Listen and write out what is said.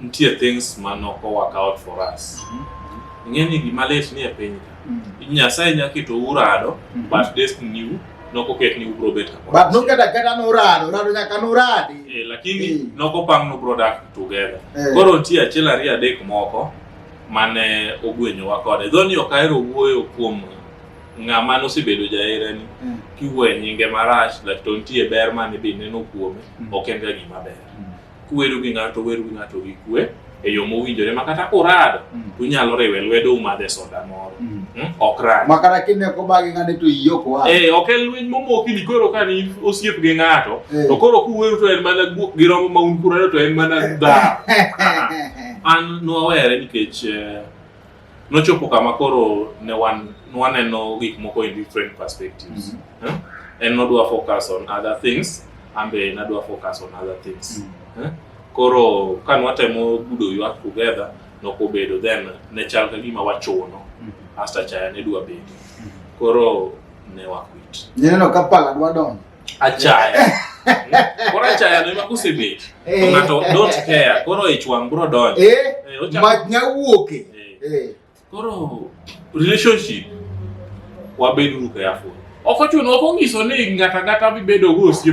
Nitie things ma nok work out for us. Mm -hmm. Ing'e ni gima lit ni e piny ka. Mm -hmm. Nyasaye nya keto urado, mm -hmm. but destiny u noko ket ni ubro bet kamoro. But no kata kata no urado, urado nyaka no uradi. Eh, lakini eh. noko pang no bro dak together. Eh. Koro nitie achiel ariyo adek moko mane ogwenyowa kode. Dho ni ok ahero wuoyo kuom ng'ama nosebedo jaherani mm. kiwe nyinge marach lakini nitie ber mane be neno kuome mm. ok en ga gima ber mm. kuwero gi ng'ato weru gi ng'ato gi kwe e yo mowinjore ma kata kurado mm. to unyalo riwe lwedo umadhe soda moro mm. hmm? ok rad ma kata kine ko bagi ng'ane to iyo ko eh ok en lweny momoki ni koro ka ni osiep gi ng'ato eh. to koro kuwero to en mana guok gi romo ma un kurado to en mana dha an nwawere nikech eh, Nochopo kama koro ne wan waneno gik moko in different perspectives. Mm -hmm. eh? En nodwa focus on other things, ambe nadwa focus on other things. Mm -hmm. eh? Koro ka nwatemo gudo ywak together nokobedo then ne chal ka gima wachuno mm -hmm. asta chaya ne dwa bedo. Mm -hmm. Koro ne wakwit. Neno ka pala dwa donjo. Achaya. Koro achaya no imakusibit. Eh. Ng'ato don't care. Koro ich wang' bro donjo. Eh. Eh, ocha- Mach nyawuoke. Eh. Eh. Koro relationship wabeduru careful. Ok ochuno ok onyiso ni ng'ato ang'ata mibedogo osiep